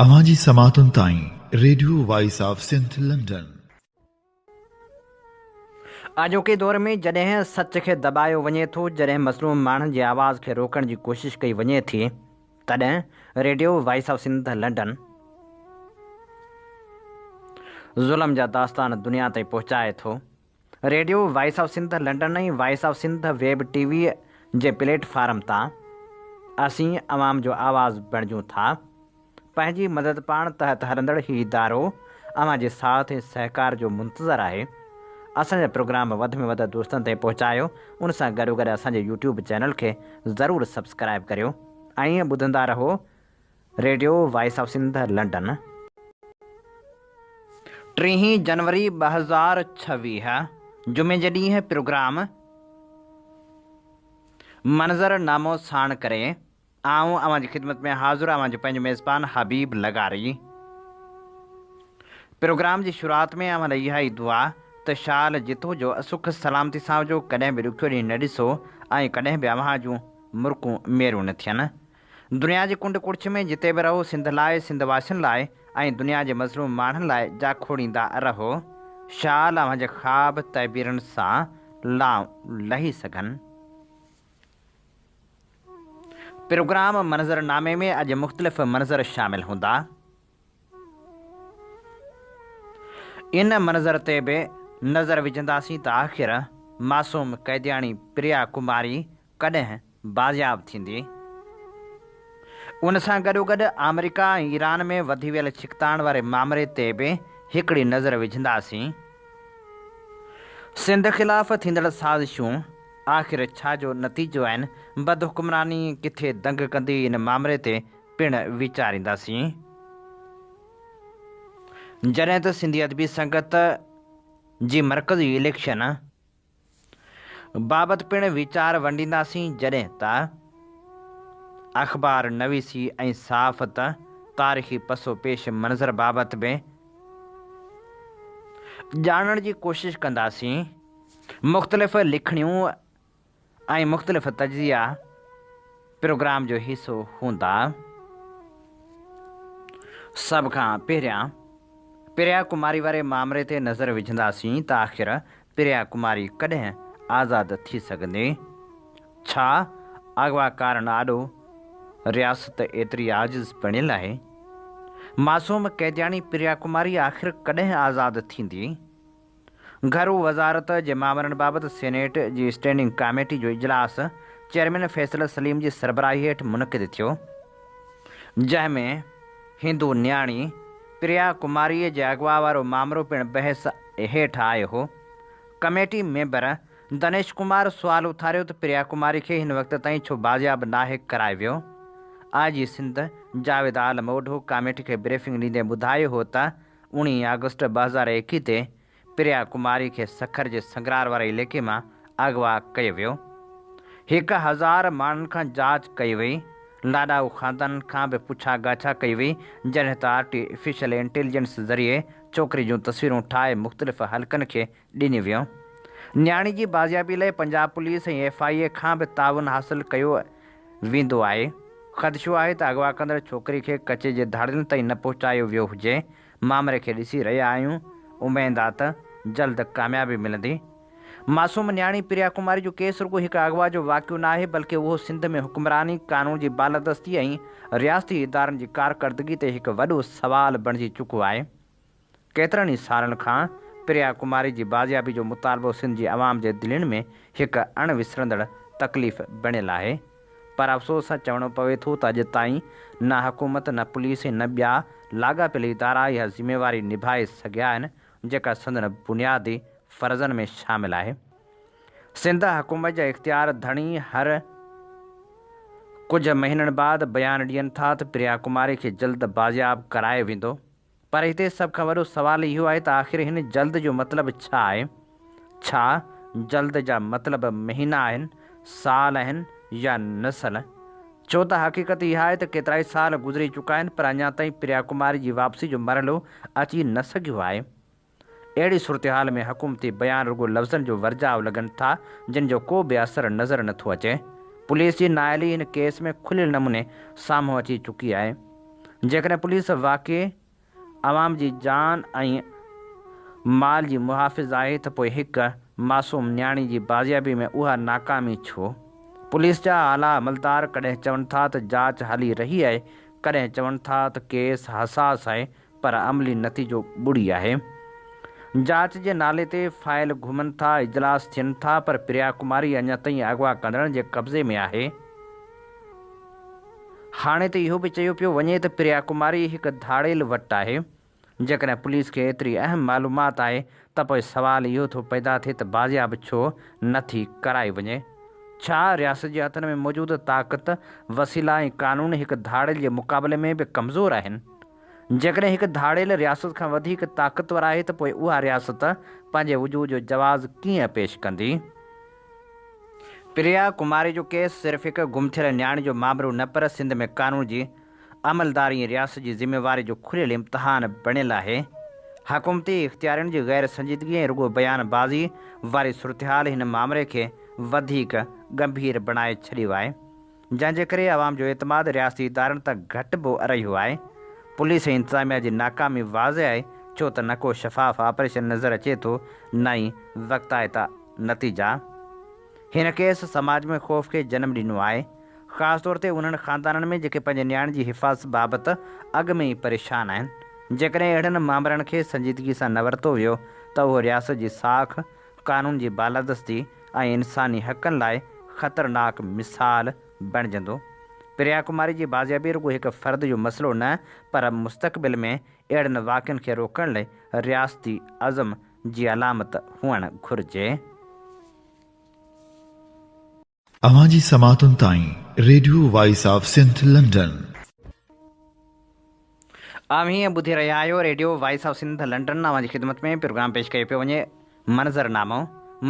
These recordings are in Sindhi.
اوهان جي سماعتن تائين radio voice of Sindh London. اڄوڪي دور ۾ جڏهن سچ کي دٻايو وڃي ٿو، جڏهن مظلوم ماڻهن جي آواز کي روڪڻ جي ڪوشش ڪئي وڃي ٿي، تڏهن radio voice of Sindh London ظلم جا داستان دنيا تائين پهچائي ٿو radio voice of Sindh London ۽ voice of Sindh web T V جي پليٽ فارم تان اسين عوام جو آواز بڻجون ٿا. پنهنجي مدد پاڻ تحت هلندڙ هي ادارو اوهان جي ساٿ ۽ سهڪار جو منتظر آهي. اسان جا پروگرام وڌ ۾ وڌ دوستن تائين پهچايو ان سان گڏو گڏ اسان جي يوٽيوب چينل کي ضرور سبسڪرائب ڪريو ۽ ٻڌندا رهو. Radio voice of Sindh London ٽيهين جنوري ٻه هزار ڇويهه جمعي جي ڏينهن پروگرام منظر نامو ساڻ ڪري آئون اوهان جي خدمت ۾ حاضر اوهان جو پنهنجو ميزبان حبيب لغاري پروگرام جي شروعات ۾ اوهان لاء اها ئي دعا ته شال جتو جو سک سلامتي سان هجو ڪڏهن به ڏکيو ڏينهن نه ڏسو ۽ ڪڏهن به اوهان جون مرڪون ميرون نه ٿين دنيا جي ڪنڊ ڪڙڇ ۾ جتي به رهو سنڌ لاء، سنڌ واسين لاء ۽ دنيا جي مظلوم ماڻهن لاء جا کوڙيندا رهو. شال اوهان جي خواب تعبيرن سان لانء لهي سگهن. پروگرام منظرنامي ۾ اڄ مختلف منظر شامل هوندا. ان منظر تي به نظر وجهنداسين ته آخر معصوم قيدياڻي پريا ڪماري ڪڏهن بازياب ٿيندي؟ ان سان گڏوگڏ آمريڪا ۽ ايران ۾ وڌي ويل ڇڪتاڻ واري مامري تي به هڪڙي نظر وجهنداسين. سنڌ خلاف ٿيندڙ سازشون آخر ڇا جو نتيجو آهن، بدحڪمراني ڪٿي دنگ ڪندي ان مامري تي پڻ ويچارينداسين، جڏهن ته سنڌي ادبي سنگت جي مرڪزي اليڪشن بابت پڻ ويچار ونڊينداسين، جڏهن ته اخبار نويسي ۽ صحافت تاريخي پس و پيش منظر بابت به ڄاڻڻ جي ڪوشش ڪنداسين، مختلف لکڻيون. ۽ مختلف تجزيا پروگرام جو حصو هوندا. سڀ کان پهريان پريا ڪماري واري مامري تي نظر وجهنداسين ته آخر پريا ڪماري ڪڏهن آزاد ٿي سگهندي؟ ڇا اغواڪارن آڏو رياست ايتري عاجز بڻيل آهي؟ معصوم قيدياڻي پريا ڪماري آخر ڪڏهن آزاد ٿيندي؟ گهرو وزارت جي مامرن بابت سينيٽ جي اسٽينڊنگ ڪاميٽي جو اجلاس چيئرمين فيصل سليم جي سربراهي هيٺ منعقد ٿيو، جنهن ۾ هندو نياڻي پريا ڪماريء جي اغوا وارو مامرو پڻ بحث هيٺ آيو هو. ڪميٽي ميمبر دنيش ڪمار سوال اٿاريو ته پريا ڪماري کي هن وقت تائين ڇو بازياب ناهي ڪرايو ويو؟ I G Sindh Javed Alam Odho committee کي بريفنگ ڏيندي ٻڌايو هو ته اوڻيهه آگسٽ ٻه هزار ايڪيهه تي پريا ڪماري کي سکر جي سنگرار واري عليقي مان اغوا ڪيو ويو. هڪ هزار ماڻهن کان جاچ ڪئي وئي. لاڏائو خاندان کان به پڇا ڳاڇا ڪئي وئي، جڏهن ته آرٽيفيشل انٽيليجنس ذريعي ڇوڪري جون تصويرون ٺاهي مختلف حلقن کي ڏني ويو. نياڻي جي بازيابي لئه Punjab police ۽ F I A کان به تعاون حاصل ڪيو ويندو آهي. خدشو آهي ته اغوا ڪندڙ ڇوڪري کي ڪچي جي ڌاڙيلن تائين نه پهچايو ويو هجي. مامري کي ڏسي رهيا آهيون، اميد آ ته جلد ڪاميابي ملندي. معصوم نياڻي پريا ڪماري جو ڪيس رڳو هڪ اغوا جو واقعو نه آهي بلڪه اهو سنڌ ۾ حڪمراني، قانون جي بالادستي ۽ رياستي ادارن جي ڪارڪردگي تي هڪ وڏو سوال بڻجي چڪو آهي. ڪيترن ئي سالن کان پريا ڪماري جي بازيابي جو مطالبو سنڌ جي عوام جي دلين ۾ هڪ اڻ وسرندڙ تڪليف بڻيل آهي پر افسوس سان چوڻو پوي ٿو ته اڄ تائين نه حڪومت نه پوليس ۽ نه ٻيا لاڳاپيل ادارا اها ذميواري نڀائي سگهيا آهن جيڪا سندن بنيادي فرضن ۾ شامل آهي سنڌ حڪومت جا اختيار ڌڻي هر ڪجهه مهينن بعد بيان ڏين ٿا ته پريا ڪماري کي جلد بازياب ڪرايو ويندو. پر هتي سڀ کان وڏو سوال اهو آهي ته آخر هن جلد جو مطلب ڇا آهي؟ ڇا جلد جا مطلب مهينا آهن، سال آهن يا نسل؟ ڇو ته حقيقت اها آهي ته ڪيترائي سال گذري چڪا آهن پر اڃا تائين پريا ڪماري جي واپسي جو مرحلو اچي نه سگهيو آهي. اهڙي صورتحال ۾ حڪومتي بيان رڳو لفظن جو ورجاء لڳن ٿا، جن جو ڪو به اثر نظر نه ٿو اچي. پوليس جي نااهلي هن ڪيس ۾ کليل نموني سامهون اچي چڪي آهي. جيڪڏهن پوليس واقعي عوام جي جان ۽ مال جي محافظ آهي ته پوء هڪ معصوم نياڻي جي بازيابي ۾ اها ناڪامي ڇو؟ پوليس جا اعليٰ عملدار ڪڏهن چون ٿا ته جاچ هلي رهي آهي، ڪڏهن چون ٿا ته ڪيس حساس آهي، پر عملي نتيجو ٻڙي آهي. جاچ جي نالي تي فائل گهمن ٿا، اجلاس ٿين ٿا پر پريا ڪماري اڃا تائين اغوا ڪندڙن جي قبضي ۾ آهي. هاڻي ته اهو به چيو پيو وڃي ته پريا ڪماري هڪ ڌاڙيل وٽ آهي. جيڪڏهن پوليس کي ايتري اهم معلومات آهي ته پوء سوال اهو ٿو پيدا ٿئي ته بازياب ڇو نه ٿي ڪرائي وڃي؟ ڇا رياست جي هٿن ۾ موجود طاقت، وسيلا ۽ قانون هڪ ڌاڙيل جي مقابلي ۾ به ڪمزور آهن؟ جيڪڏهن هڪ ڌاڙيل رياست کان وڌيڪ طاقتور آهي ته پوء اها رياست پنهنجي وجود جو جواز ڪيئن پيش ڪندي؟ پريا ڪماري جو ڪيس صرف هڪ گم ٿيل نياڻي جو مامرو نه پر سنڌ ۾ قانون جي عملداري ۽ رياست جي ذميواري جو کليل امتحان بڻيل آهي. حڪومتي اختيارين جي غير سنجيدگي ۽ رڳو بيان بازي واري صورتحال هن مامري کي وڌيڪ ڳنڀير بڻائي ڇڏيو آهي. جنهن جي ڪري عوام جو اعتماد رياستي ادارن تان گهٽ به رهيو آهي، پوليس ۽ انتظاميا جي ناڪامي واضح آهي ڇو ته نه ڪو شفاف آپريشن نظر اچي ٿو نه ئي وقت آئتا نتيجا. هن ڪيس سماج ۾ خوف کي جنم ڏنو آهي خاص طور تي انهن خاندانن ۾ جيڪي پنهنجي نياڻين جي حفاظت بابت اڳ ۾ ئي پريشان آهن جيڪڏهن اهڙن مامرن کي سنجيدگي سان نه ورتو ويو ته اهو رياست جي ساک قانون جي بالادستي ۽ انساني حقن لاء خطرناڪ مثال بڻجندو. پريا ڪماري جي بازيابي رڳو هڪ فرد جو مسئلو نه پر مستقبل ۾ اهڙن واقعن کي روڪڻ لئي رياستي عزم جي علامت هئڻ گهرجي. اوهان جي سماعتن تائين radio voice of Sindh London. اوهين ٻڌي رهيا آهيو radio voice of Sindh London اوهان جي خدمت ۾ پروگرام پيش ڪيو پيو وڃي منظر نامو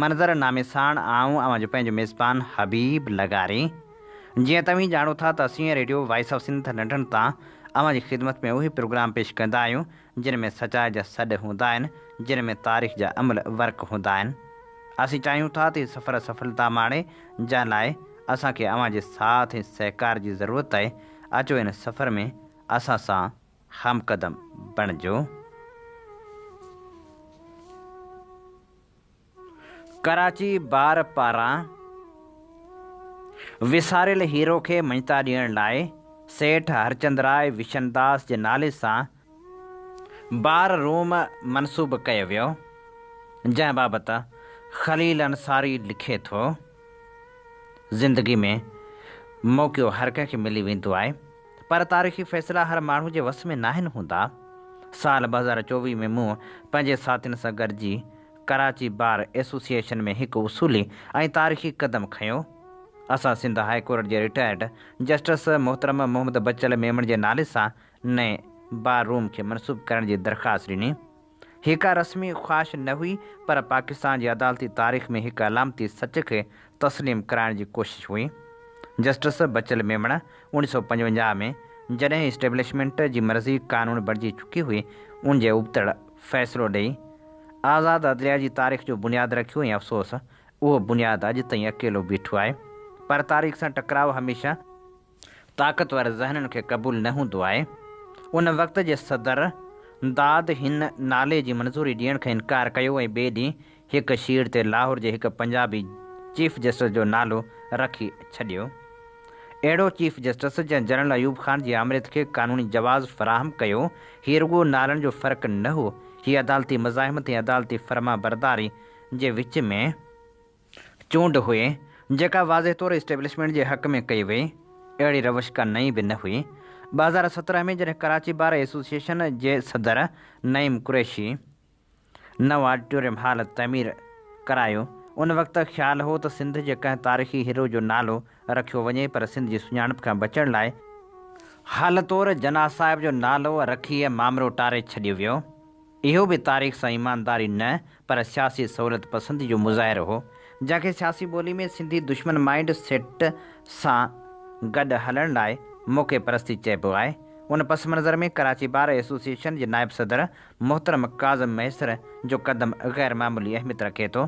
منظر نامي ساڻ آئون اوهان جو پنهنجو ميزبان حبيب لغاري جيئن توهين ڄاڻو ٿا ته اسين radio voice of Sindh London تان اوهان جي خدمت ۾ اهي پروگرام پيش ڪندا آهيون جن ۾ سچائي جا سڏ هوندا آهن، جن ۾ تاريخ جا امل ورق هوندا آهن. اسين چاهيون ٿا ته هي سفر سڦلتا ماڻي، جنهن لاء اسان کي اوهان جي ساٿ ۽ سهڪار جي ضرورت آهي، اچو ان سفر ۾ اسان سان همقدم بڻجو. ڪراچي بار پاران وساريل هيرو کي مڃتا ڏيڻ لاء سيٺ هرچندراء وشنداس جي نالي سان بار روم منسوب ڪيو ويو، جنهن بابت خليل انصاري لکي ٿو، زندگي ۾ موقعو هر ڪنهن کي ملي ويندو آهي، پر تاريخي فيصلا هر ماڻهو جي وس ۾ ناهن هوندا. سال ٻه هزار چوويهه ۾ مون پنهنجي ساٿين سان گڏجي ڪراچي بار ايسوسيئيشن ۾ هڪ اصولي ۽ تاريخي قدم کنيو، اسان سنڌ هاء ڪورٽ جي رٽائرڊ جسٽس محترم محمد بچل ميمڻ جي نالي سان نئين بار روم کي منسوب ڪرڻ جي درخواست ڏني، هيء ڪا رسمي خواهش نه هئي پر پاڪستان جي عدالتي تاريخ ۾ هڪ علامتي سچ کي تسليم ڪرائڻ جي ڪوشش هئي، جسٽس بچل ميمڻ اڻ سؤ پنجونجاهه ۾ جڏهن اسٽيبلشمينٽ جي مرضي قانون بڻجي چڪي هئي ان جي ابتڙ فيصلو ڏئي آزاد عدليه جي تاريخ جو بنياد رکيو ۽ افسوس اهو بنياد اڄ تائين اڪيلو بيٺو آهي پر تاريخ سان ٽڪراء هميشه طاقتور ذهنن کي قبول نه هوندو آهي ان وقت جي صدر داد هن نالي جي منظوري ڏيڻ کان انڪار ڪيو ۽ ٻئي ڏينهن هڪ شير تي لاهور جي هڪ پنجابي چيف جسٽس جو نالو رکي ڇڏيو. اهڙو چيف جسٽس جنهن جنرل ايوب خان جي آمريت کي قانوني جواز فراهم ڪيو، هي رڳو نالن جو فرق نه هو، هي عدالتي مزاحمت ۽ عدالتي فرمانبرداري جي وچ ۾ چونڊ هئي، جيڪا واضح طور اسٽيبلشمينٽ جي حق ۾ ڪئي وئي. اهڙي روش ڪا نئين به نه هئي. ٻه هزار سترهن ۾ جڏهن ڪراچي بار ايسوسيئيشن جي صدر نعيم قريشي، نئون آڊيٽوريم هال تعمير ڪرايو. ان وقت خيال هو ته سنڌ جي ڪنهن تاريخي هيرو جو نالو رکيو وڃي پر سنڌ جي سڃاڻپ کان بچڻ لاء، هال طور جناح صاحب جو نالو رکي مامرو ٽاري ڇڏيو ويو، اهو به تاريخ سان ايمانداري نه پر سياسي سهولت پسندي جو مظاهرو هو، جنهن کي سياسي ٻولي ۾ سنڌي دشمن مائينڊ سيٽ سان گڏ هلڻ لاء موقعي پرستي چئبو آهي. ان پس منظر ۾ ڪراچي بار ايسوسيئيشن جي نائب صدر محترم ڪاظم مهيسر جو قدم غير معمولي اهميت رکي ٿو،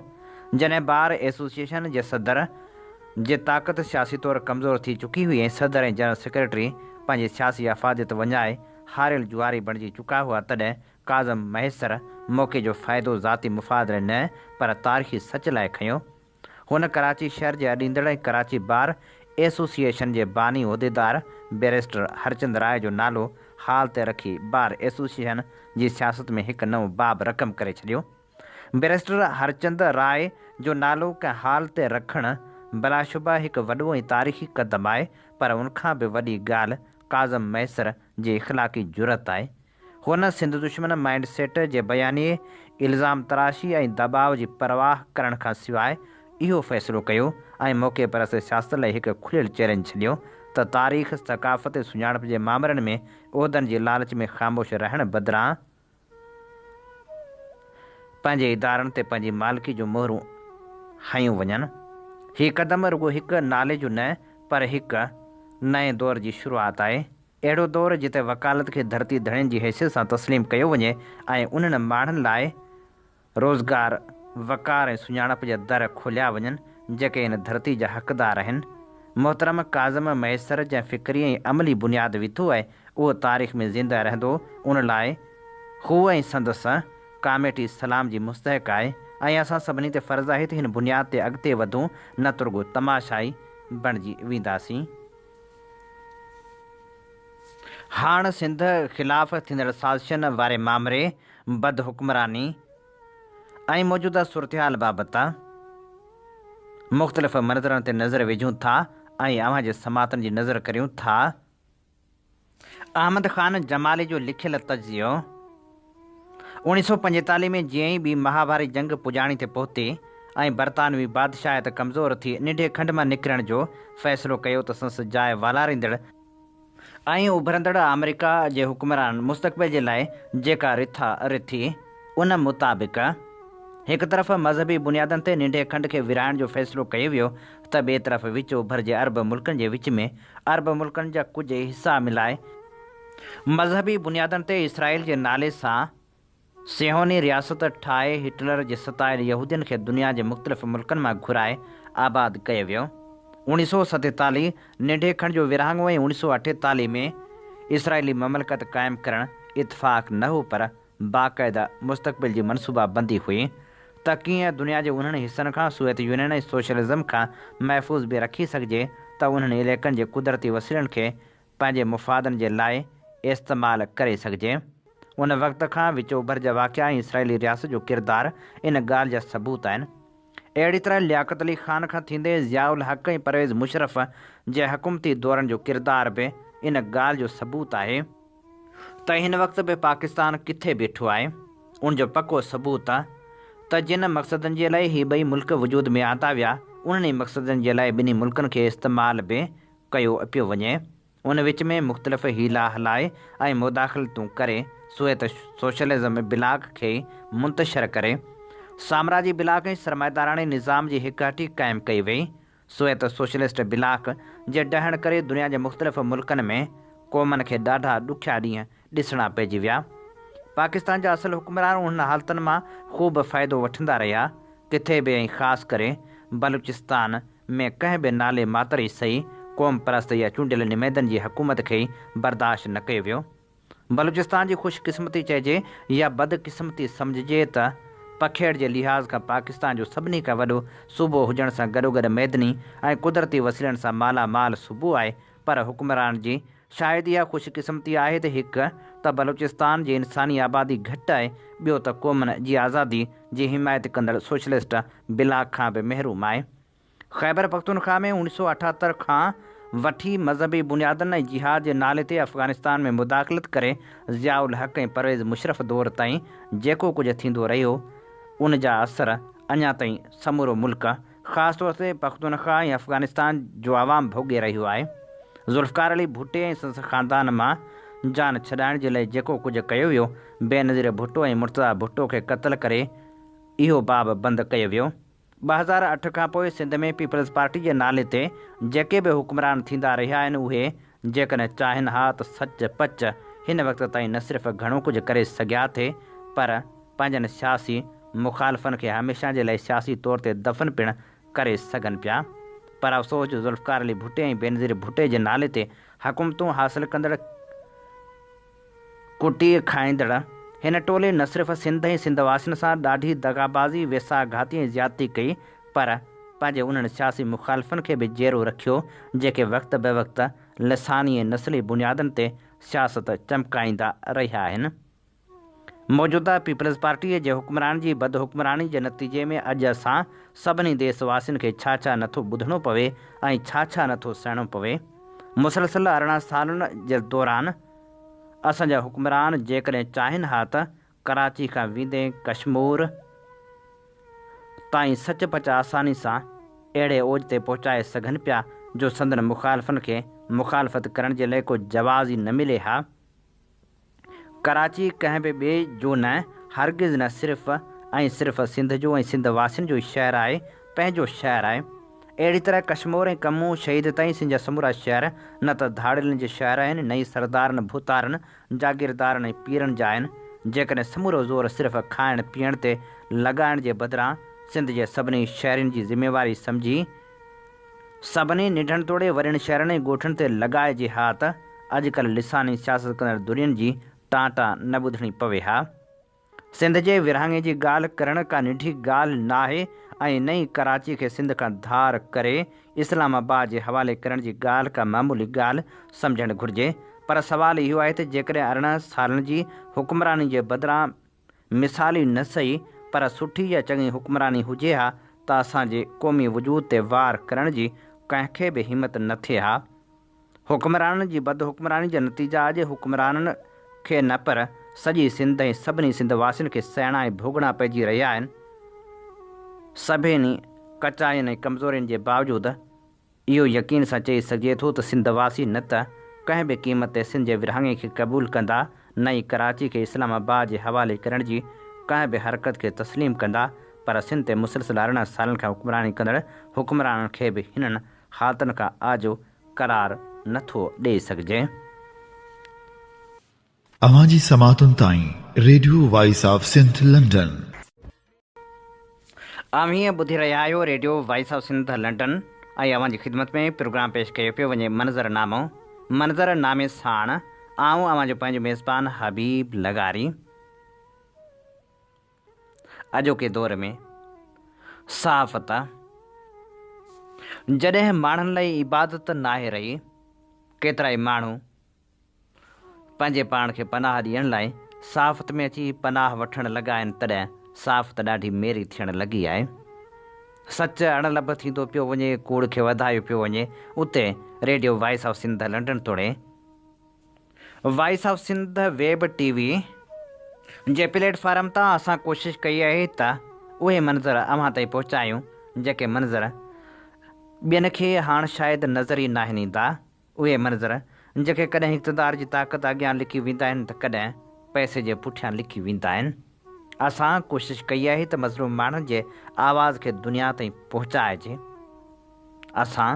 جڏهن بار ايسوسيئيشن جي صدر جي طاقت سياسي طور ڪمزور ٿي چڪي هئي ۽ صدر ۽ جنرل سيڪريٽري پنهنجي سياسي افاديت وڃائي هاريل جواري بڻجي چڪا هئا تڏهن ڪاظم مهيسر موقعي جو فائدو ذاتي مفاد لاء نه پر تاريخي سچ لاء کنيو هن ڪراچي شهر جي اڏيندڙ ۽ ڪراچي بار ايسوسيئيشن جي باني عهديدار بئريسٽر هرچند راء جو نالو حال تي رکي بار ايسوسيئيشن جي سياست ۾ هڪ نئون باب رقم ڪري ڇڏيو. بئريسٽر هرچند راء جو نالو ڪنهن حال تي رکڻ بلاشبه هڪ وڏو ۽ تاريخي قدم آهي پر ان کان به وڏي ڳالهه ڪاظم مهيسر جي اخلاقي جرئت آهي هن سنڌ دشمن مائينڊ سيٽ جي بيانيي، الزام تراشي ۽ دٻاء جي پرواهه ڪرڻ کان سواء اهو فيصلو ڪيو ۽ موقعي پرست سياست لاء هڪ کليل چئلينج ڇڏيو ته تاريخ، ثقافت ۽ سڃاڻپ جي مامرن ۾ عهدن جي لالچ ۾ خاموش رهڻ بدران پنهنجي ادارن تي پنهنجي مالڪي جون مهرون هنيون وڃن. هي قدم رڳو هڪ نالي جو نه پر هڪ نئين دور جي شروعات آهي. اهڙو دور جتي وڪالت کي ڌرتي ڌڻين جي حيثيت سان تسليم ڪيو وڃي ۽ انهن ماڻهن لاء روزگار، وقار ۽ سڃاڻپ جا در کوليا وڃن جيڪي هن ڌرتي جا حقدار آهن. محترم ڪاظم مهيسر جنهن فڪري ۽ عملي بنياد وڌو آهي اهو تاريخ ۾ زنده رهندو ان لاء هو ۽ سندس ڪاميٽي سلام جي مستحق آهي ۽ اسان سڀني تي فرض آهي ته هن بنياد تي اڳتي وڌون نه ترڳو تماشائي بڻجي وينداسين. هاڻ سنڌ خلاف ٿيندڙ سازشن واري مامري، بد حڪمراني ۽ موجوده صورتحال بابت مختلف منظرن تي نظر وجهون ٿا ۽ اوهان جي سماعتن جي نظر ڪريون ٿا. احمد خان جمالي جو لکيل تجزيو اوڻيهه سؤ پنجيتاليهه ۾ جيئن ئي ٻي مها ڀاري جنگ پڄاڻي تي پهتي ۽ برطانوي بادشاهيت ڪمزور ٿي ننڍي کنڊ مان نڪرڻ جو فيصلو ڪيو ته سنس جاء والاريندڙ ۽ اڀرندڙ آمريڪا جي حڪمرانن مستقبل جي لاء جيڪا رٿا رٿي ان مطابق هڪ طرف مذهبي بنيادن تي ننڍي کنڊ کي ورهائڻ جو فيصلو ڪيو ويو ته ٻئي طرف وچ اوڀر جي عرب ملڪن جي وچ ۾ عرب ملڪن جا ڪجهه حصا ملائي مذهبي بنيادن تي اسرائيل جي نالي سان صيهوني رياست ٺاهي هٽلر جي ستايل يهودين کي دنيا جي مختلف ملڪن مان گهرائي آباد ڪيو ويو. اوڻي سو ستيتاليھ ننڍي کڻ جو ورهاڱو ۽ اوڻي سو اٺيتاليھ ۾ اسرائيلي مملڪت قائم ڪرڻ اتفاق نه هو پر باقاعده مستقبل جي منصوبا بندي هئي ته ڪيئن دنيا جي انهن حصن کان سويت يونين ۽ سوشلزم کان محفوظ به رکي سگهجي ته انهن عليقن جي قدرتي وسيلن کي پنهنجي مفادن جي لاء استعمال ڪري سگهجي. ان وقت کان وچ اوڀر جا واقعا ۽ اسرائيلي رياست جو ڪردار ان ڳالهه جا ثبوت آهن. اهڙي طرح لياقت علي خان کان ٿيندي ضياء الحق ۽ پرويز مشرف جي حڪومتي دورن جو ڪردار به ان ڳالهه جو ثبوت آهي ته هن وقت به پاڪستان ڪٿي بيٺو آهي. ان جو پڪو ثبوت ته جن مقصدن جي لاء هي ٻئي ملڪ وجود ۾ آندا ويا، انهن ئي مقصدن جي لاء ٻنهي ملڪن کي استعمال به ڪيو پيو وڃي. ان وچ ۾ مختلف حيلا هلائي ۽ مداخلتون ڪري سويت سوشلزم بلاڪ کي منتشر ڪري، سامراجي بلاڪ ۽ سرمائيداراڻي نظام جي هڪهٽي قائم ڪئي وئي. سويت سوشلسٽ بلاڪ جي ڊهڻ ڪري دنيا جي مختلف ملڪن ۾ قومن کي ڏاڍا ڏکيا ڏينهن ڏسڻا پئجي ويا. پاڪستان جا اصل حڪمران انهن حالتن مان خوب فائدو وٺندا رهيا. ڪٿي به ۽ خاص ڪري بلوچستان، ۾ ڪنهن به نالي ماتر عيسائي، قوم پرست يا چونڊيل نمائندن جي حڪومت کي برداشت نه ڪيو ويو. بلوچستان جي خوش قسمتي چئجي يا بد قسمتي سمجهجي ته پکيڙ جي لحاظ کان پاڪستان جو سڀني کان وڏو صوبو هجڻ سان گڏوگڏ معدني ۽ قدرتي وسيلن سان مالا مال صوبو آهي پر حڪمران جي شايد اها خوش قسمتي آهي ته هڪ ته بلوچستان جي انساني آبادي گهٽ آهي، ٻيو ته قومن جي آزادي جي حمايت ڪندڙ سوشلسٽ بلا کان به محروم آهي. خيبر پختونخوا ۾ اوڻيھ سؤ اٺهتر کان وٺي مذهبي بنيادن ۽ جهاد جي نالي تي افغانستان ۾ مداخلت ڪري ضياء الحق ۽ پرويز مشرف دور تائين جيڪو ڪجهه ٿيندو رهيو ان جا اثر اڃا تائين سمورو ملڪ خاص طور تي پختونخوا ۽ افغانستان جو عوام ڀوڳي رهيو آهي، ذوالفقار علي ڀٽي ۽ سندس خاندان مان جان ڇڏائڻ جي لئه جيڪو ڪجهه ڪيو ويو، بينظير ڀٽو ۽ مرتضيٰ ڀٽو کي قتل ڪري اهو باب بند ڪيو ويو. ٻه هزار اٺ کانپوء سنڌ ۾ پيپلز پارٽي جي نالي تي جيڪي به حڪمران ٿيندا رهيا آهن اهي جيڪڏهن چاهين ها ته سچ پچ هن وقت تائين نه صرف گهڻو ڪجهه ڪري سگهيا ٿي پر پنهنجن سياسي مخالفن کي هميشه جي لاء سياسي طور تي دفن پڻ ڪري سگهن پيا پر افسوس جو ذوالفقار علي ڀٽي ۽ بينظير ڀٽي جي نالي تي حڪومتون حاصل ڪندڙ ڪٽي کائيندڙ هن ٽولي نه صرف سنڌ ۽ سنڌ واسين سان ڏاڍي دغابازي، ويساهه گهاتي ۽ زيادتي ڪئي پر پنهنجي انهن سياسي مخالفن کي به جيئرو رکيو جيڪي وقت به وقت لساني ۽ نسلي بنيادن تي سياست چمڪائيندا رهيا آهن. موجوده پيپلز پارٽيء جي حڪمران جي بد حڪمراني جي نتيجي ۾ اڄ اسان سڀني ديس واسين کي ڇا ڇا نٿو ٻڌڻو پوي ۽ ڇا ڇا نٿو سهڻو پوي. مسلسل ارڙهن سالن جي دوران اسان جا حڪمران جيڪڏهن چاهين ها ته ڪراچي کان ويندي ڪشمور تائين سچ پچ آساني سان اهڙي اوج تي پهچائي سگهن پيا جو سندن مخالفن کي مخالفت ڪرڻ جي لئه ڪو جواز ئي نه ملي ها. ڪراچي ڪنهن به ٻئي جو نه، هرگز نه صرف ۽ صرف سنڌ جو ۽ سنڌ واسين جو ئي شهر آهي، پنهنجو شهر آهي. اهڙي طرح ڪشمور ۽ ڪمون شهيد تائين سنڌ جا سمورا شهر نه ته ڌاڙيلن جي شهر آهن نه ئي سردارن، ڀوتارن، جاگيردارن ۽ پيرن جا آهن. جيڪڏهن سمورو زور صرف کائڻ پيئڻ تي لڳائڻ جي بدران سنڌ جي سڀني شهرين جي ذميواري سمجهي، سڀني ننڍڻ توڙي وڏين شهرن ۽ ڳوٺن تي لڳائجي ها ته اڄ ڪلهه لساني سياست ڪندڙ ڌرين جي ٽان ٽان نه ٻڌڻي پوي ها. سنڌ جي ورهاڱي جي ڳالهه ڪرڻ ڪا ننڍي ڳالهه ناهي ۽ نه ئي ڪراچي کي سنڌ کان ڌار ڪري اسلام آباد جي حوالي ڪرڻ جي ڳالهه ڪا معمولي ڳالهه سمجهڻ گهرجي پر سوال اهو آهي ته جيڪڏهن ارڙهن سالن جي حڪمراني جي بدران مثالي نه سهي پر سٺي يا چڱي حڪمراني هجي ها ته اسان جي قومي وجود تي وار ڪرڻ جي ڪنهن کي به همت نه ٿئي ها. حڪمرانن جي بد حڪمراني جا نتيجا اڄ حڪمرانن کي نه پر سڄي سنڌ ۽ سڀني سنڌ واسين کي سهڻا ۽ ڀوڳڻا پئجي رهيا آهن. سڀني ڪچاين ۽ ڪمزورين جي باوجود، اهو يقين سان چئي سگهجي ٿو ته سنڌ واسي نه ته ڪنهن به قيمت تي سنڌ جي ورهاڱي کي قبول ڪندا نه ئي ڪراچي کي اسلام آباد جي حوالي ڪرڻ جي ڪنهن به حرڪت کي تسليم ڪندا پر سنڌ تي مسلسل ارڙهن سالن کان حڪمراني ڪندڙ حڪمرانن کي به هنن حالتن کان آجو قرار نه ٿو ڏئي سگهجي. اوهان جي سماعتن تائين radio voice of Sindh London. اوهين ٻڌي رهيا آهيو radio voice of Sindh London ۽ اوهان جي خدمت ۾ پروگرام پيش ڪيو پيو وڃي منظر نامو منظر نامي ساڻ آئون اوهان جو پنهنجو ميزبان حبيب لغاري اڄوڪي دور ۾ صحافت جڏهن ماڻهن لاء عبادت ناهي رهي ڪيترائي ماڻهو پنهنجي پاڻ کي پناهه ڏيڻ لاء صحافت ۾ اچي پناهه وٺڻ لڳا آهن تڏهن صحافت ڏاڍي ميري ٿيڻ لڳي آهي. سچ اڻ لڀ ٿيندو پيو وڃي، ڪوڙ کي وڌايو پيو وڃي، اتي radio voice of Sindh London توڙي voice of Sindh web T V جي پليٽ فارم تان اسان ڪوشش ڪئي آهي ته اهي منظر اوهان تائين پهچايون جيڪي منظر ٻين کي هاڻ شايد نظر ئي ناهن ايندا. اهي منظر جيڪي ڪڏهن اقتدار جي طاقت اڳيان لڪي ويندا آهن ته ڪڏهن پئسي جي پٺيان لڪي ويندا آهن. اسان ڪوشش ڪئي آهي ته مظلوم ماڻهن جي آواز کي دنيا تائين پهچائجي. اسان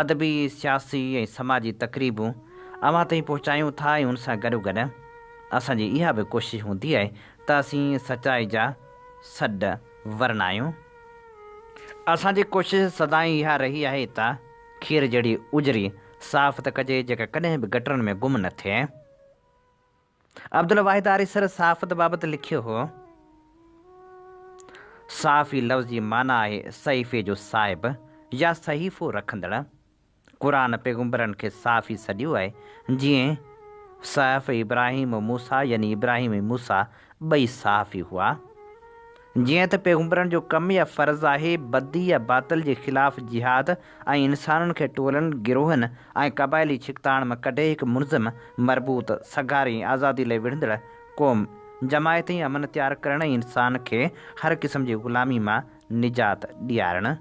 ادبي، سياسي ۽ سماجي تقريبون اوهان تائين پهچايون ٿا ۽ ان سان گڏوگڏ اسان جي اها به ڪوشش هوندي آهي ته اسين سچائي جا سڏ ورنايون. اسان جي ڪوشش سدائين اها رهي آهي ته. کير جهڙي اجري صاف ته ڪجي جيڪا ڪڏهن به گٽرن ۾ گم نه ٿئي. عبدالواحد آريسر صحافت بابت لکيو هو، صحافي لفظ جي معنيٰ آهي صحيفي جو صاحب يا صحيفو رکندڙ. قرآن پيغمبرن کي صحافي سڏيو آهي، جيئن صحف ابراهيم و موسيٰ يعني ابراهيم ۽ موسيٰ ٻئي صحافي هئا. جيئن ته پيغمبرن جو ڪم يا فرض آهي بدي يا باطل جي خلاف جهاد ۽ انسانن کي ٽولن، گروهن ۽ قبائلي ڇڪتاڻ مان ڪڍي هڪ منظم، مربوط، سگهاري ۽ آزادي لئي وڙهندڙ قوم، جماعت ۽ امن تيار ڪرڻ ۽ انسان کي هر قسم جي غلامي مان نجات ڏيارڻ.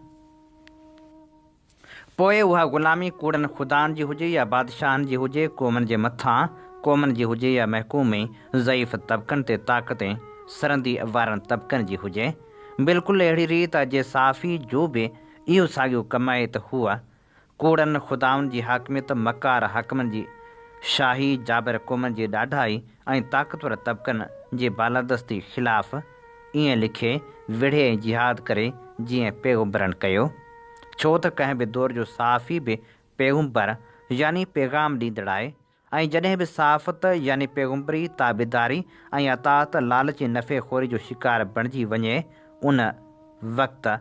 پوء اها غلامي ڪوڙن خدائن جي هجي يا بادشاهن جي هجي، قومن جي مٿان، قومن جي هجي يا محڪوم ۽ ضعيف طبقن تي طاقت ۽ سرندي وارن طبقن جي هجي. بلڪل اهڙي ريت اڄ صحافي جو به اهو ساڳيو ڪم آهي ته هو ڪوڙن خدائن جي حاڪميت، مڪار حاڪمن جي شاهي، جابر قومن جي ڏاڍائي ۽ طاقتور طبقن جي بالادستي خلاف، ائين لکي وڙهي ۽ جهاد ڪري جيئن پيغمبرن ڪيو، ڇو ته ڪنهن به دور جو صحافي به پيغمبر يعني پيغام ڏيندڙ آهي ۽ جڏهن به صحافت يعني پيغمبري تابعداري ۽ اطاعت لالچ ۽ نفعي خوري جو شڪار بڻجي وڃي ان وقت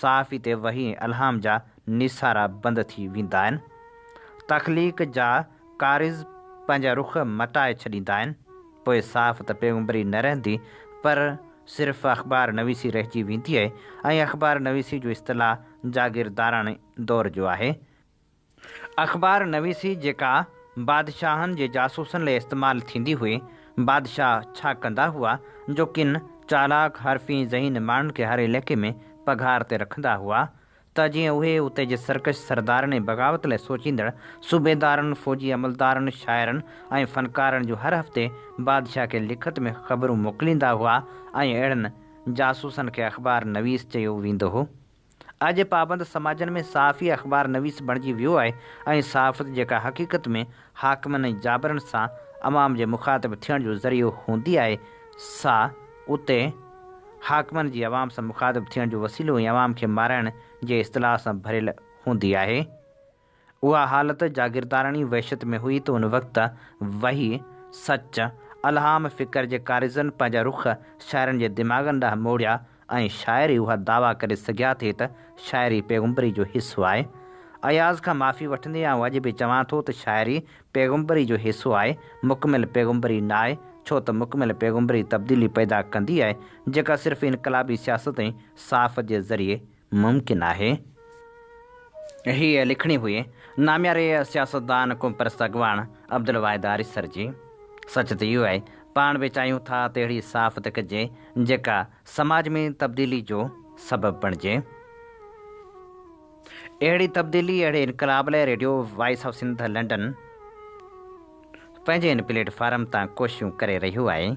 صحافي تي وحي ۽ الهام جا نيسارا بند ٿي ويندا آهن. تخليق جا ڪاريز پنهنجا رخ مٽائي ڇڏيندا آهن. پوء صحافت پيغمبري نه رهندي پر صرف اخبار نويسي رهجي ويندي ۽ اخبار نويسي جو اصطلاح جاگيرداراڻي دور جو آهي. اخبار نويسي جيڪا بادشاهن جي جاسوسن لئي استعمال ٿيندي هئي، بادشاهه ڇا ڪندا هئا جو ڪن چالاڪ، حرفي، ذهين ماڻهن کي هر عليقي ۾ پگهار تي رکندا هئا ته جيئن اهي اتي جي سرڪش سردارن ۽ بغاوت لئي سوچيندڙ صوبيدارن، فوجي عملدارن، شاعرن ۽ فنڪارن جون هر هفتي بادشاهه کي لکت ۾ خبرون موڪليندا هئا ۽ اهڙن جاسوسن کي اخبار نويس چيو ويندو هو. اڄ جي پابند سماجن ۾ صحافي اخبار نويس بڻجي ويو آهي ۽ صحافت جيڪا حقيقت ۾ حاڪمن ۽ جابرن سان عوام جي مخاطب ٿيڻ جو ذريعو هوندي آهي سا اتي حاڪمن جي عوام سان مخاطب ٿيڻ جو وسيلو ۽ عوام کي مارائڻ جي اصطلاح سان ڀريل هوندي آهي. اها حالت جاگيرداراڻي وحشت ۾ هئي ته ان وقت وحي، سچ، الهام، فڪر جي ڪاريزن پنهنجا رخ شاعرن جي دماغن ڏانهن موڙيا ۽ شاعر ئي اها دعويٰ ڪري سگهيا ٿي ته شاعري پيغمبري جو حصو آهي. اياز کان معافي وٺندي آئون اڄ به چوان ٿو ته شاعري پيغمبري جو حصو آهي، مڪمل پيغمبري ناهي، ڇو ته مڪمل پيغمبري تبديلي پيدا ڪندي آهي، جيڪا صرف انقلابي سياست ۽ صحافت جي ذريعي ممڪن آهي. هيء لکڻي هئي نامياري سياستدان قومپرست اڳواڻ عبدالواحد آريسر جي. سچ ته اهو آهي، پاڻ به چاهيون ٿا ته اهڙي صحافت ڪجي، جيڪا سماج ۾ تبديلي جو سبب بڻجي. اهڙي تبديلي، اهڙي انقلاب لاء radio voice of Sindh London پنهنجي ان پليٽ فارم تان ڪوششون ڪري رهيو آهي.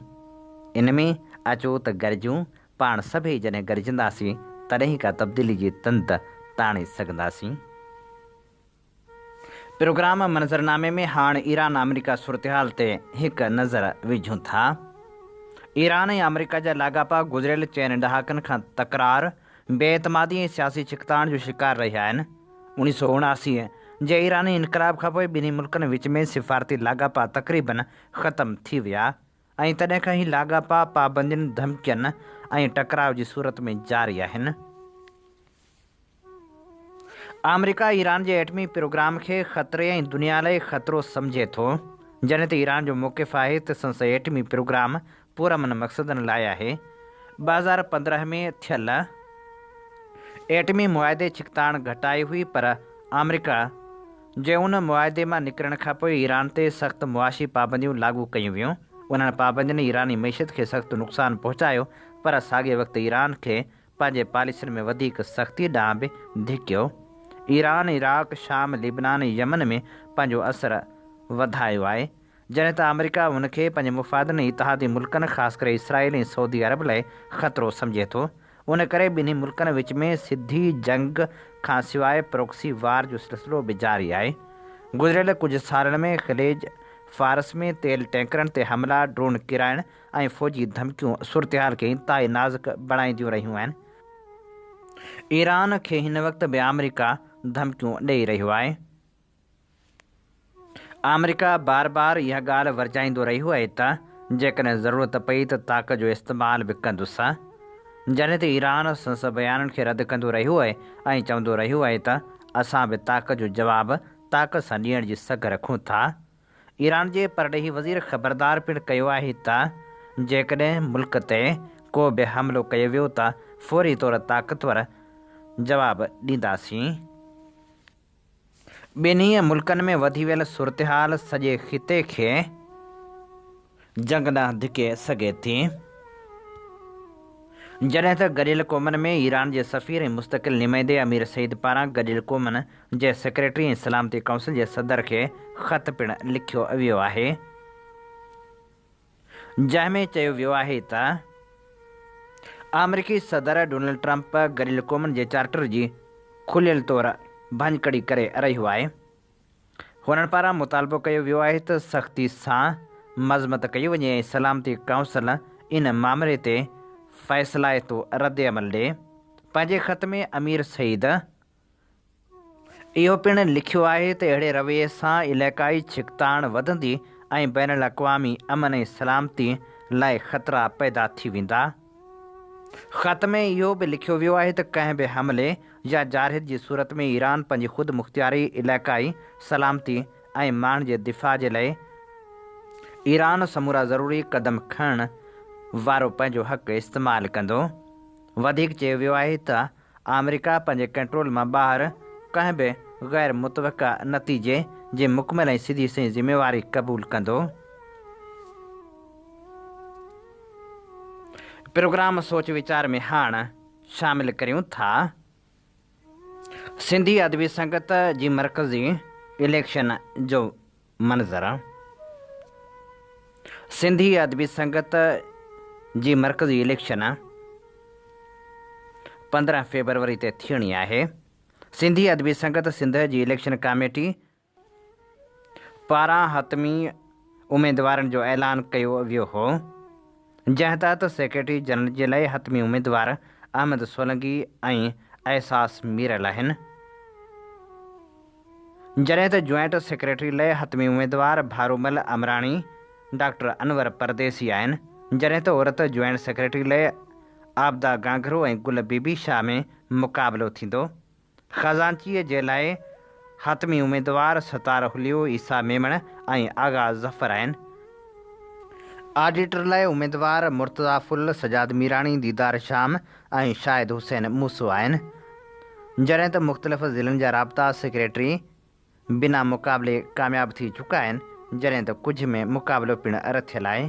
ان ۾ اچو ته گڏجون پاڻ سڀئي جڏهن گڏجنداسين، تڏهن ئي ڪا تبديلي جي تند تاڻي سگهنداسين. پروگرام منظرنامي ۾ هاڻ ايران آمريڪا صورتحال تي هڪ نظر وجهون ٿا. ايران ۽ آمريڪا جا لاڳاپا گذريل چئن ڏهاڪن کان تڪرار، بي اعتمادي ۽ سياسي ڇڪتاڻ جو شڪار رهيا آهن. اوڻيهه سؤ اڻاسي جي ايراني انقلاب کانپوء ٻنهي ملڪن وچ ۾ سفارتي لاڳاپا تقريبن ختم ٿي ويا. ۽ تڏهن کان هي لاڳاپا پابندين، ڌمڪين ۽ ٽڪراء جي صورت ۾ جاري آهن. آمريڪا ايران جي ايٽمي پروگرام کي خطري ۽ دنيا لاء خطرو سمجهي ٿو. جڏهن ته ايران جو موقف آهي ته سنس ايٽمي پروگرام پرامن مقصدن لاء آهي. ٻه هزار پندرهن ۾ ٿيل ايٽمي معاهدي ڇڪتاڻ گهٽائي هئي پر آمريڪا جي ان معاهدي مان نڪرڻ کان پوء ايران تي سخت معاشي پابنديون لاڳو ڪيون ويون. انهن پابندين ايراني معيشت کي سخت نقصان پهچايو پر ساڳئي وقت ايران کي پنهنجي پاليسين ۾ وڌيڪ سختي ڏانهن به ڌڪيو. ايران عراق، شام، لبنان ۽ يمن ۾ پنهنجو اثر وڌايو آهي. جڏهن ته آمريڪا هن کي پنهنجي مفادن ۽ اتحادي ملڪن خاص ڪري اسرائيل ۽ سعودي عرب لاء خطرو سمجهي ٿو، ان ڪري ٻنهي ملڪن وچ ۾ سڌي جنگ کان سواء پروڪسي وار جو سلسلو به جاري آهي. گذريل ڪجهه سالن ۾ خليج فارس ۾ تيل ٽينڪرن تي حملا، ڊرون ڪيرائڻ ۽ فوجي ڌمڪيون صورتحال کي انتهائي نازڪ بڻائينديون رهيون آهن. ايران کي هن وقت به آمريڪا ڌمڪيون ڏئي رهيو آهي. آمريڪا بار بار اها ڳالهه ورجائيندو رهيو آهي ته جيڪڏهن ضرورت پئي ته طاقت جو استعمال به ڪندس. جڏهن ته ايران سندس بيانن کي رد ڪندو رهيو آهي ۽ چوندو رهيو آهي ته اسان به طاقت جو جواب طاقت سان ڏيڻ جي سگهه رکون ٿا. ايران جي پرڏيهي وزير خبردار پڻ ڪيو آهي ته جيڪڏهن ملڪ تي ڪو به حملو ڪيو ويو ته فوري طور طاقتور جواب ڏينداسين. ٻنهي ملڪن ۾ وڌي ويل صورتحال سڄي خطي کي جنگ ڏانهن ڌڪي سگهي ٿي، جڏهن ته گڏيل قومن ۾ ايران جي سفير ۽ مستقل نمائندي امير سعيد پاران گڏيل قومن جي سيڪريٽري ۽ سلامتي ڪائونسل جي صدر کي خط پڻ لکيو ويو آهي. جنهن ۾ چيو ويو آهي ته آمريڪي صدر ڊونلڊ ٽرمپ گڏيل قومن جي چارٽر جي کليل طور ڀڃڪڙي ڪري رهيو آهي. هنن پاران مطالبو ڪيو ويو آهي ته سختي سان مذمت ڪئي وڃي ۽ سلامتي ڪائونسل ان معاملي تي فيصلائتو ردعمل ڏي. پنهنجي خط ۾ امير سعيد اهو پڻ لکيو آهي ته اهڙي رويي سان علائقائي ڇڪتاڻ وڌندي ۽ بين الاقوامي امن ۽ سلامتي لاء خطرا پيدا ٿي ويندا. خط ۾ اهو به لکيو ويو آهي ته ڪنهن به حملي يا جارحيت جي صورت ۾ ايران پنهنجي خود مختياري، علائقائي سلامتي ۽ ماڻهن جي دفاع جي لاء ايران سمورا ضروري قدم کڻڻ وارو پنهنجو حق استعمال ڪندو. وڌيڪ چيو ويو آهي ته آمريڪا پنهنجي ڪنٽرول مان ٻاهر ڪنهن به غير متوقع نتيجي جي مڪمل ۽ سڌي سنئين ذميواري قبول ڪندو. پروگرام سوچ ويچار ۾ هاڻ شامل ڪريون ٿا سنڌي ادبي سنگت جي مرڪزي اليڪشن جو منظر سنڌي ادبي سنگت جي مرڪزي اليڪشن پندرهن فيبروري تي ٿيڻي آهي سنڌي ادبي سنگت سنڌ جي اليڪشن ڪاميٽي پاران حتمي اميدوارن جو اعلان ڪيو ويو هو جنهن تحت سيڪريٽري جنرل جي لاء حتمي اميدوار احمد سولنگي ۽ احساس مير لاهن، جڏهن ته جوائنٽ سيڪريٽري لاء حتمي اميدوار ڀارومل امراڻي، ڊاڪٽر انور پرديسي آهن، جڏهن ته عورت جوائنٽ سيڪريٽري لاء عابده گانگرو ۽ گل بي بي شاهه ۾ مقابلو ٿيندو. خزانچيء جي لاء حتمي اميدوار ستار حليو، عيسيٰ ميمڻ ۽ آغا ظفر آهن. آڊيٽر لاء اميدوار مرتضيٰ ڦل، سجاد ميراڻي، ديدار شام ۽ شاهد حسين موسو آهن. جڏهن ته مختلف ضلعن جا رابطا سيڪريٽري بنا مقابلي ڪامياب ٿي چڪا آهن، جڏهن ته ڪجهه ۾ مقابلو پڻ رٿيل آهي.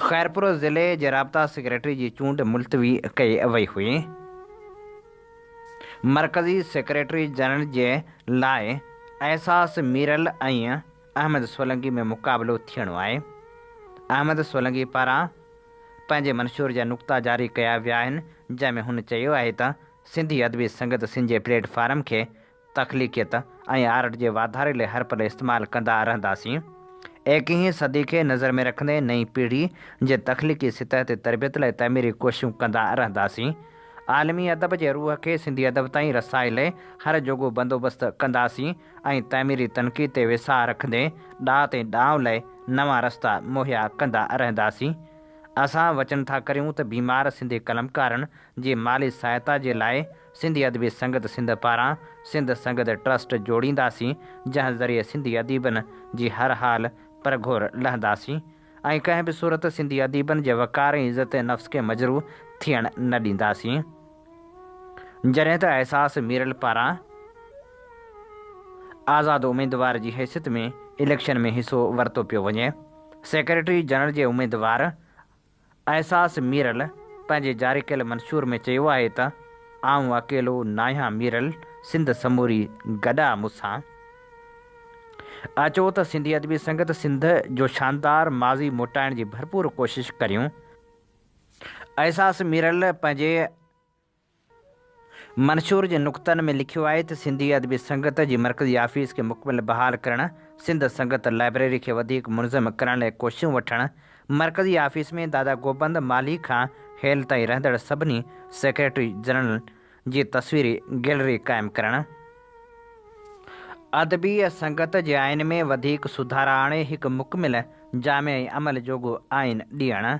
خيرپور ضلعي جي رابطا سيڪريٽري جي چونڊ ملتوي ڪئي وئي هئي. مرڪزي سيڪريٽري جنرل جي لاء احساس ميرل ۽ احمد سولنگي ۾ مقابلو ٿيڻو آهي. احمد سولنگي پاران پنهنجي منشور جا نقطا جاري ڪيا ويا آهن، جنهن ۾ هن چيو آهي ته سنڌي ادبي سنگت سين جي پليٽ فارم کي تخليقيت ۽ آرٽ جي واڌاري لاء هر پل استعمال ڪندا رهنداسين. ايڪيهين صدي کي نظر ۾ رکندي نئين پيڙهي جي تخليقي سطح تي تربيت لاء تعميري ڪوششون ڪندا رهنداسين. عالمي ادب جي روح کي سنڌي ادب تائين رسائي لاء هر جوڳو بندوبست ڪنداسين ۽ تعميري تنقيد تي ويساهه رکندي ڏات ۽ ڏانء لاء نوان رستا مهيا ڪندا رهنداسين. اسان وچن ٿا ڪريون ته بيمار سنڌي قلمڪارن جي مالي سهائتا جي لاء سنڌي ادبي سنگت سنڌ پاران سنڌ سنگت ٽرسٽ جوڙينداسين جنهن ذريعي سنڌي اديبن جي هر حال پرگهور لهنداسين ۽ ڪنهن به صورت سنڌي اديبن جي وقار ۽ عزت نفس کي مجروح ٿيڻ نه ڏينداسين جڏهن ته احساس ميرل پاران آزاد اميدوار جي حيثيت ۾ اليڪشن ۾ حصو ورتو پيو وڃي سيڪريٽري جنرل جي اميدوار احساس ميرل پنهنجي جاري ڪيل منشور ۾ چيو آهي ته، آئون اڪيلو ناهيان ميرل سنڌ سموري گڏ آ مون سان. اچو ته سنڌي ادبي سنگت سنڌ جو شاندار ماضي موٽائڻ جي ڀرپور ڪوشش ڪريون. احساس ميرل پنهنجي منشور جي نقطن ۾ لکيو آهي ته سنڌي ادبي سنگت جي مرڪزي آفيس کي مڪمل بحال ڪرڻ، سنڌ سنگت لائبريري کي وڌيڪ منظم ڪرڻ لاء ڪوششون وٺڻ، مرڪزي آفيس ۾ دادا گوبند مالهي کان هيل تائين رهندڙ سڀني سيڪريٽري جنرلن جي تصويري گيلري قائم ڪرڻ، ادبي سنگت جي آئين ۾ وڌيڪ سڌارا آڻي هڪ مڪمل، جامع ۽ عمل جوڳو آئين ڏيڻ.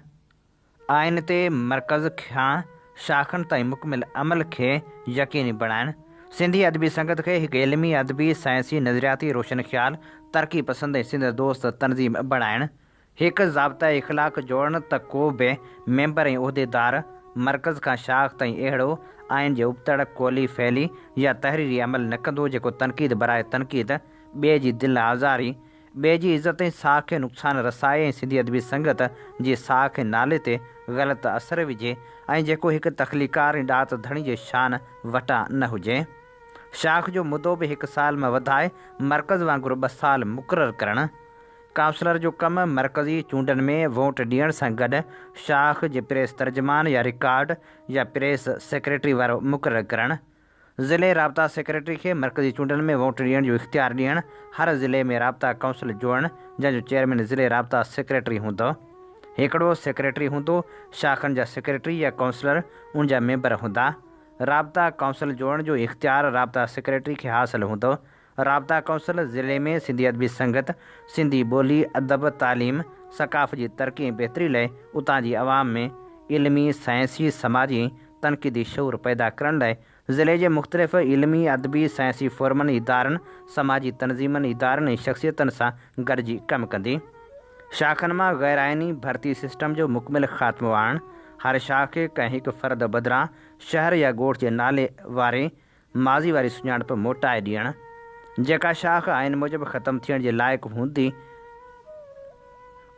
آئين تي مرڪز کان شاخن تائين مڪمل عمل کي يقيني بڻائڻ، سنڌي ادبي سنگت کي هڪ علمي، ادبي، سائنسي، نظرياتي، روشن خيال، ترقي پسند ۽ سنڌ دوست تنظيم بڻائڻ، هڪ ضابطه اخلاق جوڙڻ ته ڪو به ميمبر ۽ عهديدار مرڪز کان شاخ تائين اهڙو آئين جي ابتڙ، قولي، فعلي يا تحريري عمل نه ڪندو جيڪو تنقيد براء تنقيد، ٻئي جي دل آزاري، ٻئي جي عزت ۽ ساک کي نقصان رسائي ۽ سنڌي ادبي سنگت جي ساک ۽ نالي تي غلط اثر وجهي ۽ جيڪو هڪ تخليقڪار ۽ ڏات ڌڻي جي شان وٽان نه هجي. شاخ جو مدو به هڪ سال مان وڌائي مرڪز وانگر ٻه سال مقرر ڪرڻ. ڪائونسلر جو ڪم مرڪزي چونڊن ۾ ووٽ ڏيڻ سان گڏ شاخ جي پريس ترجمان يا رڪارڊ يا پريس سيڪريٽري وارو مقرر ڪرڻ. ضلعي رابطا سيڪريٽري کي مرڪزي چونڊن ۾ ووٽ ڏيڻ جو اختيار ڏيڻ، هر ضلعي ۾ رابطا ڪائونسل جوڙڻ جنهن جو چيئرمين ضلعي رابطا سيڪريٽري هوندو. هيڪڙو سيڪريٽري هوندو، شاخن جا سيڪريٽري يا ڪائونسلر ان جا ميمبر هوندا. رابطا ڪائونسل جوڙڻ جو اختيار رابطا سيڪريٽري کي حاصل هوندو، رابطا ڪونسل ضلعي ۾ سنڌي ادبي سنگت، سنڌي ٻولي، ادب، تعليم، ثقافت جي ترقي ۽ بهتري لاء اتان جي عوام ۾ علمي، سائنسي، سماجي ۽ تنقيدي شعور پيدا ڪرڻ لاء ضلعي جي مختلف علمي، ادبي، سائنسي فورمن، ادارن، سماجي تنظيمن، ادارن ۽ شخصيتن سان گڏجي ڪم ڪندي شاخن مان غيرآئيني ڀرتي سسٽم جو مڪمل خاتمو آڻڻ، هر شاخ کي ڪنهن هڪ فرد بدران شهر يا ڳوٺ جي نالي واري ماضي واري سڃاڻپ موٽائي ڏيڻ، جيڪا شاخ آئين موجب ختم ٿيڻ جي لائق هوندي،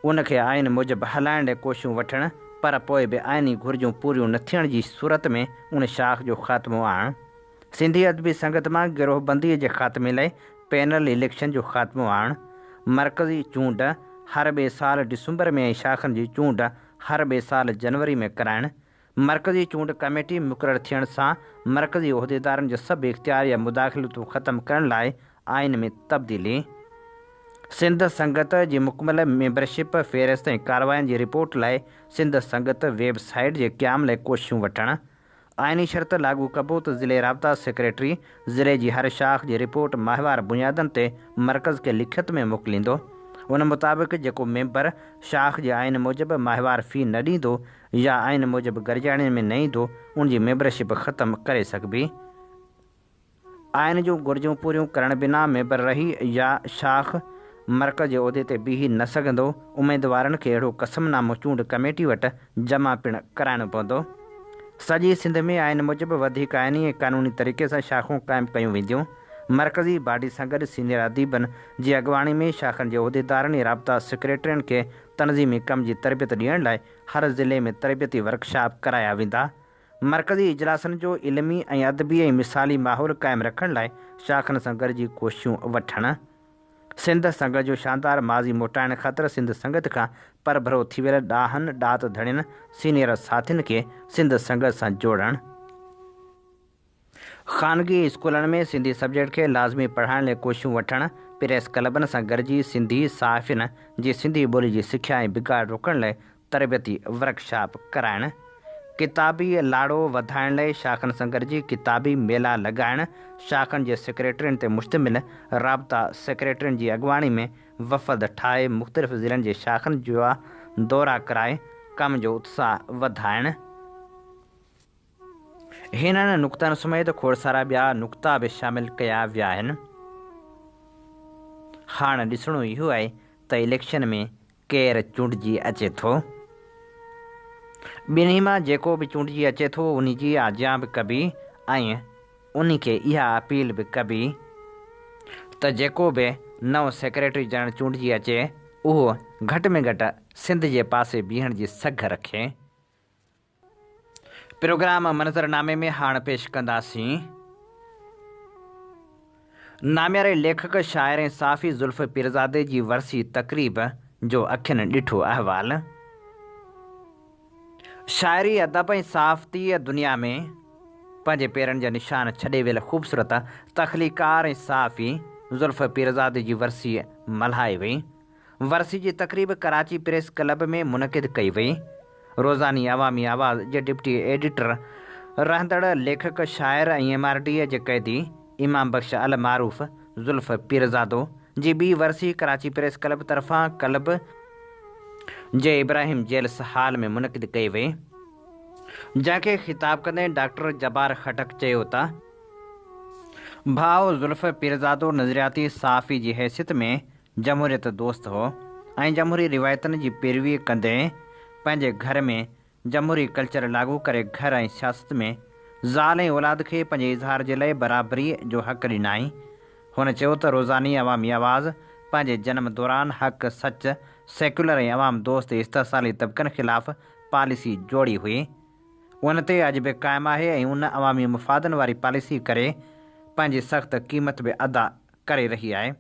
ان کي آئين موجب هلائڻ لاء ڪوششون وٺڻ، پر پوء به آئيني گهرجون پوريون نه ٿيڻ جي صورت ۾ ان شاخ جو خاتمو آڻڻ. سنڌي ادبي سنگت مان گروهبنديء جي خاتمي لاء پينل اليڪشن جو خاتمو آڻڻ، مرڪزي چونڊ هر ٻئي سال ڊسمبر ۾ ۽ شاخن جي چونڊ هر ٻئي سال جنوري ۾ ڪرائڻ، مرڪزي چونڊ ڪميٽي مقرر ٿيڻ سان مرڪزي عهديدارن جو سڀ اختيار يا مداخلتون ختم ڪرڻ لاء آئين ۾ تبديلي، سنڌ سنگت جي مڪمل ميمبرشپ فهرست ۽ ڪاررواين جي رپورٽ لاء سنڌ سنگت ويب سائيٽ جي قيام لاء ڪوششون وٺڻ، آئيني شرط لاڳو ڪبو ته ضلعي رابطا سيڪريٽري ضلعي جي هر شاخ جي رپورٽ ماهوار بنيادن تي مرڪز کي لکت ۾ موڪليندو، ان مطابق جيڪو ميمبر شاخ جي آئين موجب ماهوار في نه ڏيندو يا آئين موجب گرجاڻين ۾ نئين دو ان جي ميمبرشپ ختم ڪري سگهبي. آئين جون گهرجون پوريون ڪرڻ بنا ميمبر رهي يا شاخ مرڪز جي عهدي تي بيهي نه سگهندو. اميدوارن کي اهڙو قسم نامو چونڊ ڪميٽي وٽ جمع پڻ ڪرائڻو پوندو. سڄي سنڌ ۾ آئين موجب وڌيڪ آئيني ۽ قانوني طريقي سان شاخون قائم ڪيون وينديون. مرڪزي باڊي سان گڏ سينيئر اديبن جي اڳواڻي ۾ شاخن جي عهديدارن ۽ رابطا سيڪريٽرين کي تنظيمي ڪم جي تربيت ڏيڻ لاء هر ضلعي ۾ تربيتي ورڪشاپ ڪرايا ويندا. مرڪزي اجلاسن جو علمي ۽ ادبي ۽ مثالي ماحول قائم رکڻ لاء شاخن سان گڏجي ڪوششون وٺڻ. سنڌ سنگت جو شاندار ماضي موٽائڻ خاطر سنڌ سنگت کان پرڀرو ٿي ويل ڏاهن ڏات ڌڻين، سينيئر ساٿين کي سنڌ سنگت سان جوڙڻ. خانگي اسڪولن ۾ سنڌي سبجيڪٽ کي لازمي پڙهائڻ لئه ڪوششون وٺڻ، پريس ڪلبن سان گڏجي سنڌي صحافين جي سنڌي ٻولي جي سکيا ۽ بگاڙ روڪڻ لئه تربيتي ورڪشاپ ڪرائڻ، ڪتابي لاڙو وڌائڻ لئه شاخن سان گڏجي ڪتابي ميلا لڳائڻ، شاخن جي سيڪريٽرين تي مشتمل رابطا سيڪريٽرين جي اڳواڻي ۾ وفد ٺاهي مختلف ضلعن جي شاخن جا دورا ڪرائي ڪم جو اتساهه وڌائڻ، هنن نقطن سميت کوڙ سارا ٻيا نقطا به شامل ڪيا ويا آهن. هاڻ ڏسڻو اهو آهي ته اليڪشن ۾ ڪير چونڊجي اچي ٿو. ٻنهي مان جيڪو به چونڊجي اچي ٿو ان جي آجيان به ڪبي ۽ ان کي اها اپيل به ڪبي ته جيڪو به نئون سيڪريٽري جنرل چونڊجي اچي اهو گهٽ ۾ گهٽ سنڌ جي پاسي بيهڻ جي سگهه رکي. پروگرام منظرنامي ۾ هاڻ پيش ڪنداسين. نامياري ليکڪ، شاعر ۽ صحافي زلف پيرزادي جي ورسي تقريب جو اکين ڏٺو احوال. شاعري، ادب ۽ صحافتيء دنيا ۾ پنهنجي پيرن جا نشان ڇڏي ويل خوبصورت تخليقڪار ۽ صحافي زلف پيرزادي جي ورسي ملهائي وئي. ورسي جي تقريب ڪراچي پريس ڪلب ۾ منعقد ڪئي وئي. روزاني عوامي آواز جي ڊپٽي ايڊيٽر، رهندڙ ليکڪ، شاعر ۽ ايم آر ڊي اي جي قيدي امام بخش المعروف، زلف پيرزادو، جي ٻي ورسي ڪراچي پريس ڪلب طرفان ڪلب جي ابراهيم جيلس هال ۾ منعقد ڪئي وئي، جنهن کي خطاب ڪندي ڊاڪٽر جبار خٽڪ چيو ته ڀاء زلف پيرزادو نظرياتي صحافي جي حيثيت ۾ جمهوريت دوست هو ۽ جمهوري روايتن جي پيروي ڪندي پنهنجي گهر ۾ جمهوري ڪلچر لاڳو ڪري گهر ۽ سياست ۾ زال ۽ اولاد کي پنهنجي اظهار جي لئي برابري جو حق ڏنائين. هن چيو ته روزاني عوامي آواز پنهنجي جنم دوران حق، سچ، سيڪيولر ۽ عوام دوست استحصالي طبقن خلاف پاليسي جوڙي هئي. ان تي اڄ به قائم آهي ۽ ان عوامي مفادن واري پاليسي ڪري پنهنجي سخت قيمت به ادا ڪري رهي آهي.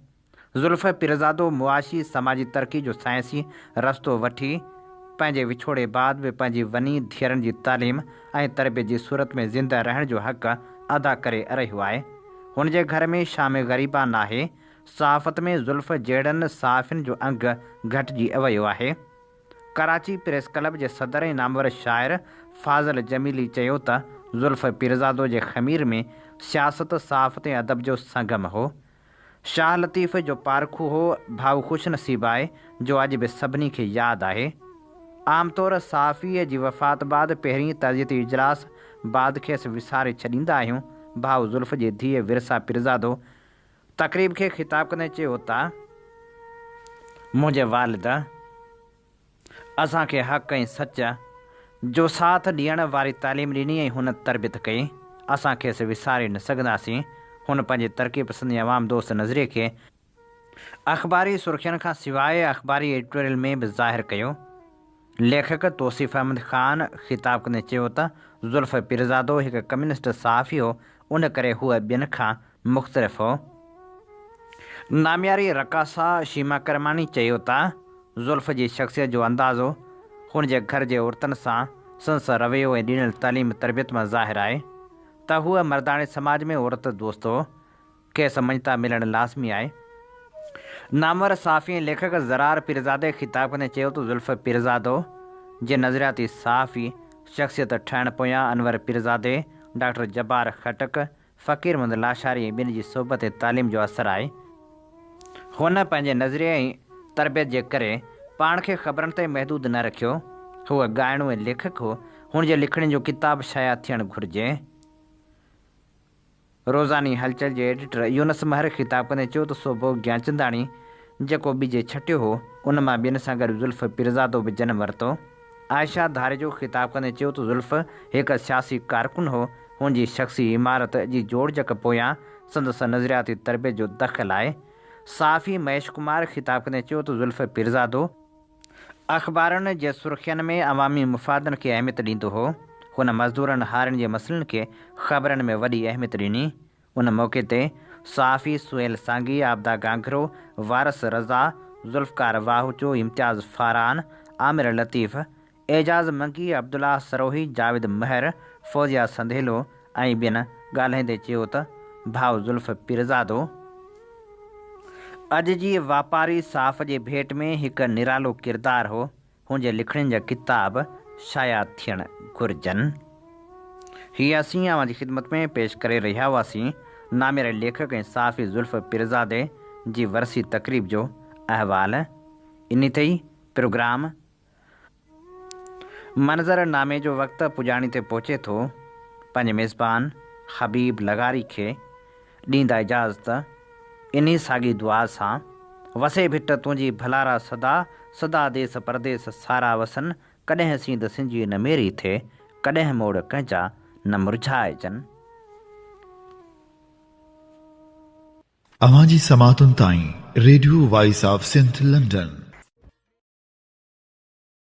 زلفي پيرزادو معاشي سماجي ترقي جو سائنسي رستو وٺي پنهنجي وڇوڙي بعد به پنهنجي وني ڌيئرن جي تعليم ۽ تربيت جي صورت ۾ زنده رهڻ جو حق ادا ڪري رهيو آهي هن جي گهر ۾ شام غريبا ناهي صحافت ۾ زلف جهڙن صحافين جو انگ گهٽجي ويو آهي ڪراچي پريس ڪلب جي صدر ۽ نامور شاعر فاضل جميلي چيو ته زلفي پيرزادو جي خمير ۾ سياست صحافت ۽ ادب جو سنگم هو شاهه لطيف جو پارکو هو ڀاء خوش نصيب آهي جو اڄ به سڀني کي ياد آهي. عام طور صحافيء جي وفات بعد پهرين تعزيتي اجلاس بعد کيس وساري ڇڏيندا آهيون ڀاء زلف جي ڌيء ورثا پيرزادو تقريب کي خطاب ڪندي چيو ته منهنجي والده، اسان کي حق ۽ سچ جو ساٿ ڏيڻ واري تعليم ڏني ۽ هن تربيت ڪئي، اسان کيس وساري نه سگهنداسين، هن پنهنجي ترقي پسند ۽ عوام دوست نظريي کي اخباري سرخين کان سواء اخباري ايڊيٽوريل ۾ به ظاهر ڪيو، ليکڪ توصيف احمد خان خطاب ڪندي چيو ته ذوالفقيرزادو هڪ ڪميونسٽ صحافي هو، ان ڪري هوء ٻين کان مختلف هو. نامياري رقاصه شيما ڪرماڻي چيو ته زلف جي شخصيت جو اندازو هن جي گهر جي عورتن سان سندس رويو ۽ ڏنل تعليم تربيت مان ظاهر آهي ته هوء مرداڻي سماج ۾ عورت دوست هو، کيس مڃتا ملڻ لازمي آهي. نامور صحافي ۽ ليکڪ زرار پيرزادي خطاب ڪندي چيو ته زلف پيرزادو جي نظرياتي صحافي شخصيت ٺهڻ پويان انور پيرزادي، ڊاڪٽر جبار خٽڪ، فقير محمد لاشاري ۽ ٻين جي صحبت ۽ تعليم جو اثر آهي. هن پنهنجي نظريي ۽ تربيت جي ڪري پاڻ کي خبرن تائين محدود نه رکيو. هو ڳائڻو ۽ ليکڪ هو. هن جي لکڻين جو ڪتاب شايع ٿيڻ گهرجي. روزاني هلچل جي ايڊيٽر يونس مهر خطاب ڪندي چيو ته سوڀو گيانچنداڻي جيڪو ٻج ڇٽيو هو، ان مان ٻين سان گڏ زلف پيرزادو به جنم ورتو. عائشه ڌاريجو خطاب ڪندي چيو ته زلف هڪ سياسي ڪارڪن هو، هن جي شخصي عمارت جي جوڙجڪ پويان سندس نظرياتي تربيت جو دخل آهي. صحافي مهيش ڪمار خطاب ڪندي چيو ته زلف پيرزادو اخبارن جي سرخين ۾ عوامي مفادن کي اهميت ڏيندو هو، هن مزدورن هارين جي مسئلن کي خبرن ۾ وڏي اهميت ڏني، ان موقعي تي صحافي سهيل سانگي، عابده گانگرو، وارث رضا، ذوالفقار واهوچو، امتياز فاران، عامر لطيف، اعجاز منگي، عبدالله سروهي، جاويد مهر، فوزيه سنديلو ۽ ٻين ڳالهائيندي چيو ته ڀاء زلف پيرزادو اڄ جي واپاري صحافت جي ڀيٽ ۾ هڪ نرالو ڪردار هو، هن جي لکڻين جا ڪتاب شايع ٿيڻ گهرجن. هي اسين اوهان جي خدمت ۾ پيش ڪري رهيا هئاسين نامياري ليکڪ ۽ صحافي ذوالفقر پيرزادي جي ورسي تقريب جو احوال انهي تي ئي پروگرام منظر نامي جو وقت پڄاڻي تي پهچي ٿو پنهنجي ميزبان حبيب لغاري کي ڏيندا اجازت انهي ساڳي دعا سان. وسي ڀٽ تنهنجي ڀلارا صدا، صدا ديس پرديس سارا وسن، ڪڏهن سينڌ سنجي نه ميري ٿئي، ڪڏهن موڙ ڪنهنجا نه مرجهائجن. اوهان جي سماعتن تائين radio voice of Sindh London.